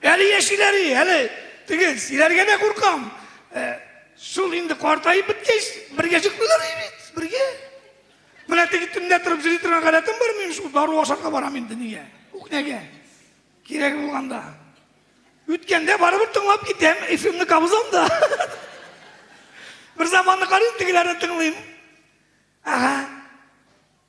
Әле яшиләри, әле теге силәргә дә куркам. Ә, шул инде картаеп беткәч, бергә чыкмыйлар бит, бергә. Менә теге төнлә торып җыри торган гадәтем бар минем шул дару ашарга барам инде нигә? Үкнәгә. Кирәк булганда. Үткәндә барыбер тыңлап китәм, эфимне кабызам да. Бер заманны карыйм, тегеләрне тыңлыйм. Ага.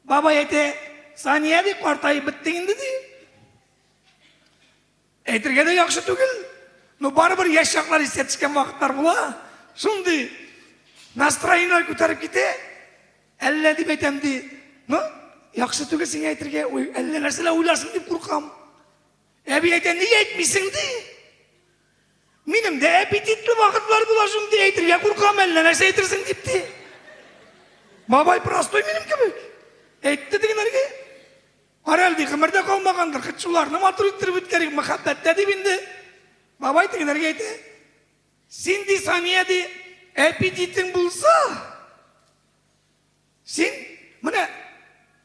Бабай әйтә, Сания ди, картаеп биттең инде ди. Әйтергә дә яхшы түгел, но барыбер яшь чаклар истә төшкән вакытлар була. Шундый настроение күтәреп китә. Әллә дип әйтәм ди. Ну, яхшы түгел сиңа әйтергә, уй, әллә нәрсәләр уйларсың дип куркам. Әби әйтә, ни әйтмисең ди. Минем дә аппетитлы вакытлар була шундый әйтергә куркам, әллә нәрсә әйтерсең дип ди. Бабай простой минем кебек. Әйтте дигәннәргә. Арәл ди гомердә калмагандыр, хит шуларны матур иттереп үткәрик, мәхәббәттә дип инде. Бабай тегеләргә әйтә. Син ди Сания ди, әпидитең булса, син менә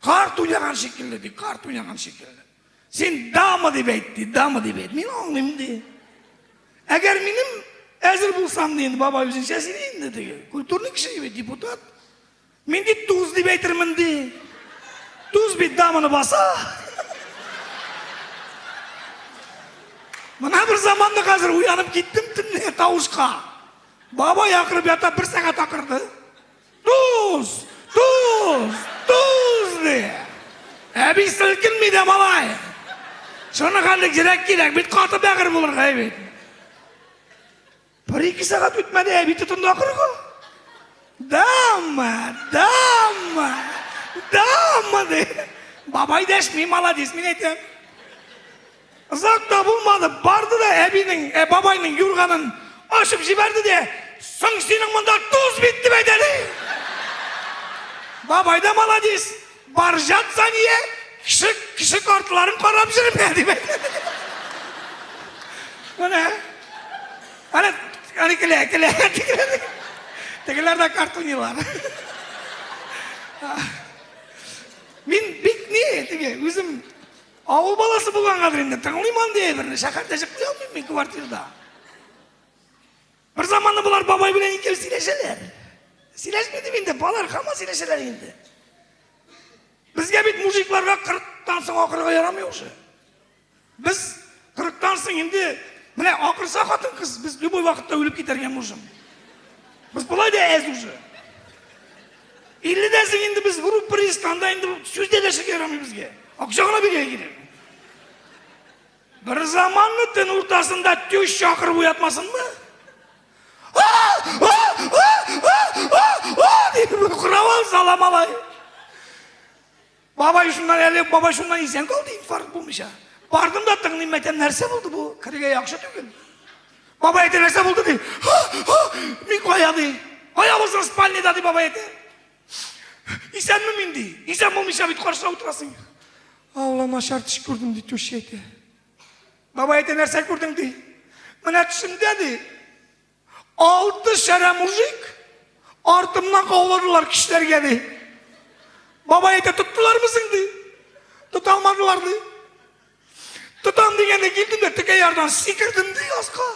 карт уйнаган шикелле ди, карт уйнаган шикелле. Син дама дип әйт ди, дама дип әйт. Мин аңлыйм ди. Әгәр минем әзер булсам ди, бабай үзенчә сөйли инде ди. Культурный кеше бит, депутат. Мин бит туз дип әйтермен ди. Туз бит даманы баса. Мына бер заманда хәзер уянып киттем төнле тавышка. Баба якырып ята бер сәгать акырды. Туз! Туз! Туз! ди. Әби селкенми дә малай. Шуны хәллек җирәк кирәк, бит каты бәгыр булырга әйбит. Бер ике сәгать үтмәде, әби тотынды акырырга. Дамма, дамма, дамма ди. Бабай дәшми, молодец, мин әйтәм. Озак та булмады, барды да әбинең, ә бабайның юрганын ашып җибәрде дә, соң синең монда туз бит дип әйтәли. Бабай да молодец. Баржат Сания кеше, кеше картларын карап җөрмә дип әйтте. Менә. Аны аны килә, килә. Тегеләр дә картунилар. Мин бик ни, теге үзем авыл баласы булгангадыр инде, тыңлыйм андый әйберне. Шәһәрдә чыкмый алмыйм мин квартирада. Бер заманны болар бабай белән ике ел сөйләшәләр. Сөйләшми дип инде, балалар һаман сөйләшәләр инде. Безгә бит мужикларга 40-тан соң акырга ярамый уже. Без 40-тан соң инде менә акырса хатын кыз, без любой вакытта үлеп китәргә можем. Без болай да әз уже. 50-дән соң инде без вру пристанда инде сүз дәләшергә ярамый безгә. Акча гына бирә кирәк. Бер заманны төн уртасында тюш чакырып уятмасынмы? Дип куравал сала малай. Бабай шуннан әле, бабай шуннан исән калды, инфаркт булмыйча. Бардым да тыңлыйм, мәтәм, нәрсә булды бу? Кергә яхшы түгел. Бабай әйтә, нәрсә булды ди? Мин кая ди? Кая булсын спальняда ди бабай әйтә. Исәнме мин ди. Исән булмыйча бит каршыда утырасың. Алла начар төш күрдем ди түши әйтә. Бабай әйтә нәрсә күрдең ди. Менә төшемдә ди. Алты шәрә мужик артымнан кауладылар кешеләргә ди. Бабай әйтә тоттылармы соң ди. Тота алмадылар ди. Тотам дигәндә килдем дә текә ярдан сикердем ди аска.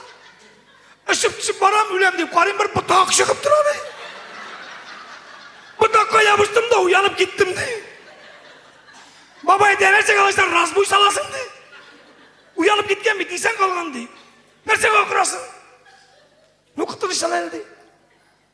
Ышып төшеп барам, үләм дип карыйм, бер ботак чыгып тора ди. Ботакка ябыштым да уянып киттем ди. Бабай дәрәҗә калачтан раз буй саласың ди. Уянып киткән бит, исән калган ди. Нәрсәгә акырасың? Ну, котылышалар ди.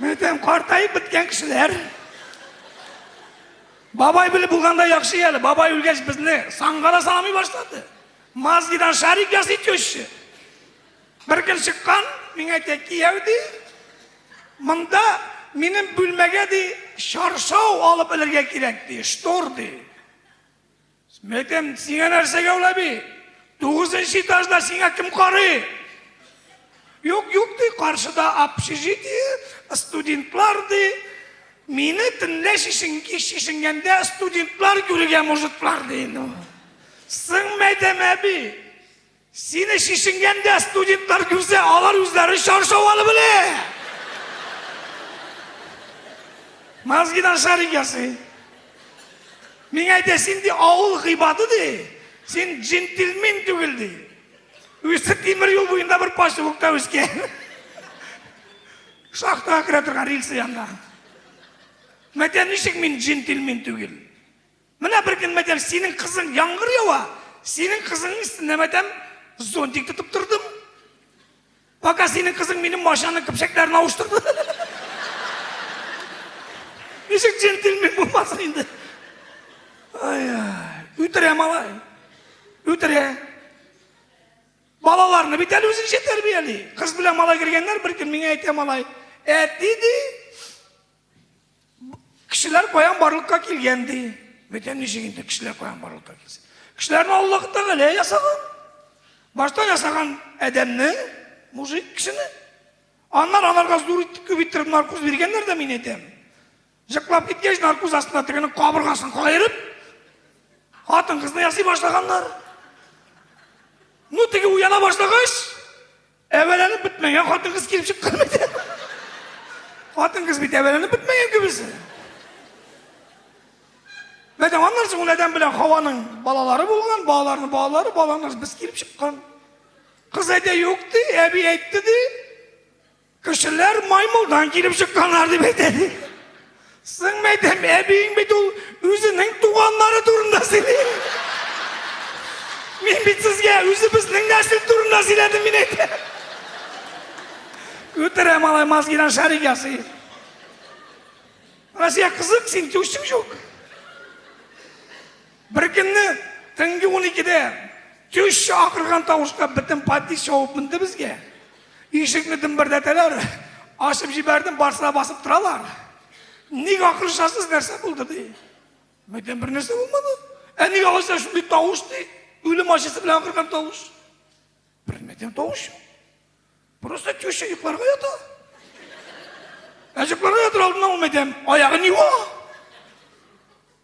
Бөтен картайып беткән кешеләр. Бабай белеп булганда яхшы әле. Бабай үлгәч безне саңгара салмый башлады. Мазгидан шарик ясый теща. Бер көн чыккан, миңа әйтә, кияү ди, монда минем бүлмәгә ди, чаршау алып элергә кирәк ди, штор ди. Сметем, сиңа нәрсә гәүлә би? Тугызынчы этажда сиңа кем карый? Юк, юк ди, каршыда общежитие, студентлар ди. Мине төнлә шешенгәндә студентлар күрергә мужиклар ди. Сың мәдәм әби. Сине шешенгәндә студентлар күрсә, алар үзләре чаршау алып эле. Мазгидан шарик ясый. Миңа әйтә, син ди авыл гыйбады ди. Син джентльмен түгел ди. Үсеп тимер юл буенда бер поселокта үскән. Шахтага керә торган рельсы янда. Мәтә ничек мин джентльмен түгел? Менә бер көн мәдәм синең кызың яңгыр ява, синең кызыңның өстенә мәдәм зонтик тотып тордым. Пока синең кызың минем машинаның көпшәкләрен авыштырды. Ничек джентльмен булмасын инде. Ай, үтерә малай. Үтерә. Балаларны бит әле үзенчә тәрбияли. Кыз белән малай кергәннәр, бер көн миңа әйтә малай, әти ди, Кешеләр каян барлыкка килгән ди. Бөтен ничек инде кешеләр каян барлыкка килсен. Кешеләрне Аллаһ Тәгалә ясаган. Башта ясаган Адәмне, мужик кешене. Аннан аларга зур итеп күп иттереп наркоз биргәннәр дә мин әйтәм. Җыклап киткәч, наркоз астына тегене кабыргасын каерып, хатын кызны ясый башлаганнар. Ну, теге уяна башлагач, Әвәләнеп бетмәгән хатын кыз килеп чыккан бит. Хатын кыз бит әвәләнеп бетмәгән кебесе. Мәдә аннан соң ул адәм белән Хаваның балалары булган, балаларның балалары, балаларның без килеп чыккан. Кыз әйтә юк ди, әби әйтте ди. Кешеләр маймылдан килеп чыкканнар дип әйтә ди. Сыңмәйтем, әбиең бит ул үзенең туганнары турында сөйли. Мин бит сезгә үзебезнең нәсел турында сөйләдем мин әйтә. Үтерә малай мозгина шарик ясый. Россия кызык, син түшсең жук. Беркөнне төнге 12-дә төшче акырган тавышта бөтен подъезд шауып менде безгә. Ишекне дөмбердәтәләр, ашып җибәрдем, барсына басып торалар. Ник акырышасыз, нәрсә булды ди. Бөтен бер нәрсә булмады. Ә ник алайса шундый тавыш ди? Үлем ачысы белән акырган тавыш. Бернәрсә тавыш юк. Просто теща йокларга ята. Ә йокларга ятыр алдыннан ул мәйтәм, аягын юа.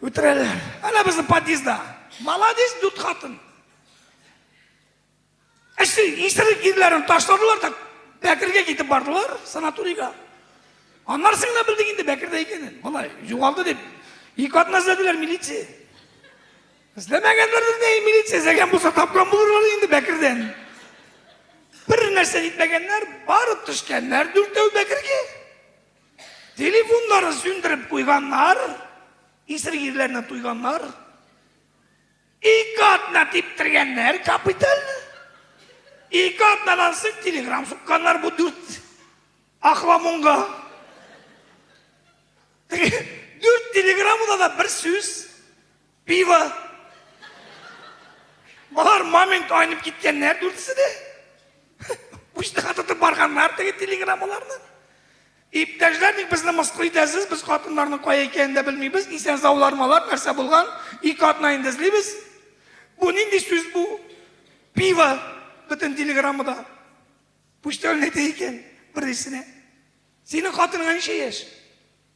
Үтерәләр. Әнә безнең подъездда. Молодец, дүрт хатын. Әште, исерек ирләрен ташладылар да Бәкергә китеп бардылар, санаторийга. Аннар сыңна белдек инде Бәкердә икәнен. Болай, югалды дип, ике атна эзләделәр милиция. Эзләмәгәннәрдер дә милиция эзләгән булса тапкан булырлар инде Бәкердән. Бер нәрсә итмәгәннәр, барып төшкәннәр дүртәү Бәкергә. Телефоннарын сүндереп куйганнар, исер ирләрне туйганнар. Ике атна типтергәннәр капиталь. Ике атнадан соң телеграм сукканнар бу дүрт ахламонга. Дүрт телеграммада да бер сүз Пиво! Болар момент айнып киткәннәр дүртесе дә. Учтыга тотып барганнар теге телеграммаларны. Иптәшләр, ник безне мыскыл итәсез? Без хатыннарның кая икәнен дә белмибез. Исән заулармалар нәрсә булган? Ике атна инде эзлибез. Бу нинди сүз бу? Пиво бөтен телеграммада. Почтальный әйтә икән берисенә. Синең хатыныңа ничә яшь?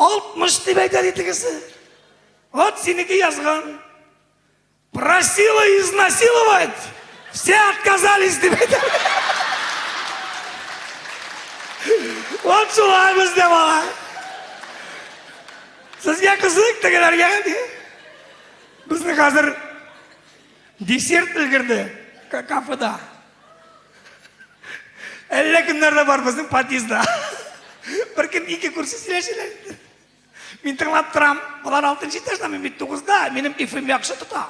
Алтмыш дип әйтә ди тегесе. Вот синеке язган. Просила изнасиловать. Все отказались дип әйтә. Вот шулай бездә бала. Сезгә кызык тегеләргә ди. Безне хәзер десерт өлгерде кафеда. Әллә кемнәр дә бар безнең подъездда. Бер кем ике күрше сөйләшәләр. Мин тыңлап торам. Болар 6 нчы этажда, мин бит 9да. Минем ифим яхшы тота.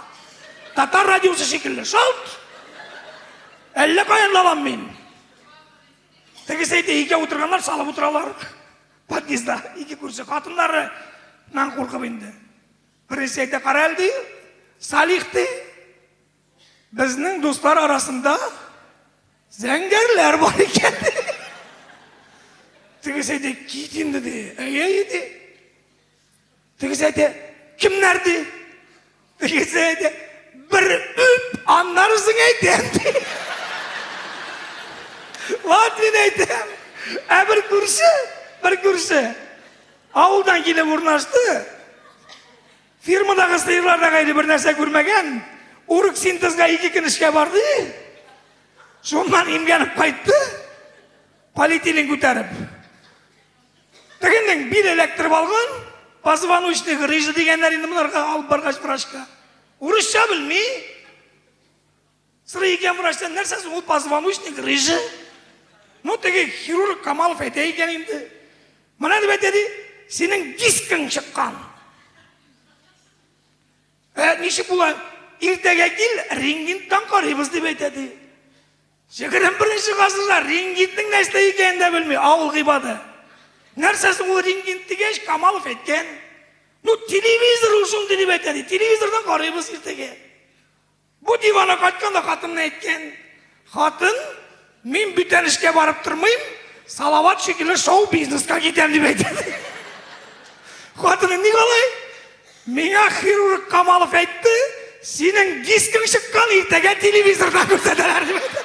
Татар радиосы шикелле. Шалт! Әллә каян лабам мин. Тегесе әйтә, ике утырганнар, салып утыралар. Подъездда ике күрше хатыннары нан куркып инде. Бересе әйтә, каралди, Салих ди, Безнең дуслар арасында зәңгәрләр бар икән. Тегесе әйтә, кит инде ди. Әйе, әйе ди. Тегесе әйтә, кемнәр ди? Тегесе әйтә, бер үп, аннарысын әйтәм ди. Ват мин әйтәм. Ә бер күрше, бер күрше. Авылдан килеп урнашты. Фирмадагы сыерларда гайре бер нәрсә күрмәгән. Урык синтезга ике көн эшкә барды. Шуннан имгәнеп кайтты. Полиэтилен күтәреп. Тегеннең бил эләктереп алган, позвоночный грыжа дигәннәр инде монарга алып баргач врачка. Урысча белми. Сыры икән врачтан нәрсә соң ул позвоночник рыжы? Ну теге хирург Камалов әйтә икән инде. Менә дип әйтә ди, синең дискың чыккан. Ә ничек була? Иртәгә кил, рентгентан карыйбыз дип әйтә ди. Җегерем беренче гасырда рентгентның нәрсә икәнен дә белми, авыл гыйбады. Нәрсә соң ул рентгент дигәч, Камалов әйткән. Ну телевизор ул шундый дип әйтә ди. Телевизордан карыйбыз иртәгә. Бу дивана кайтканда хатынына әйткән. Хатын, мин бүтән эшкә барып тормыйм, Салават шикелле шоу-бизнеска китәм дип әйтә. Хатыны ник алай? Миңа хирург Камалов әйтте, синең дискың чыккан иртәгә телевизорда күрсәтәләр дип әйтә.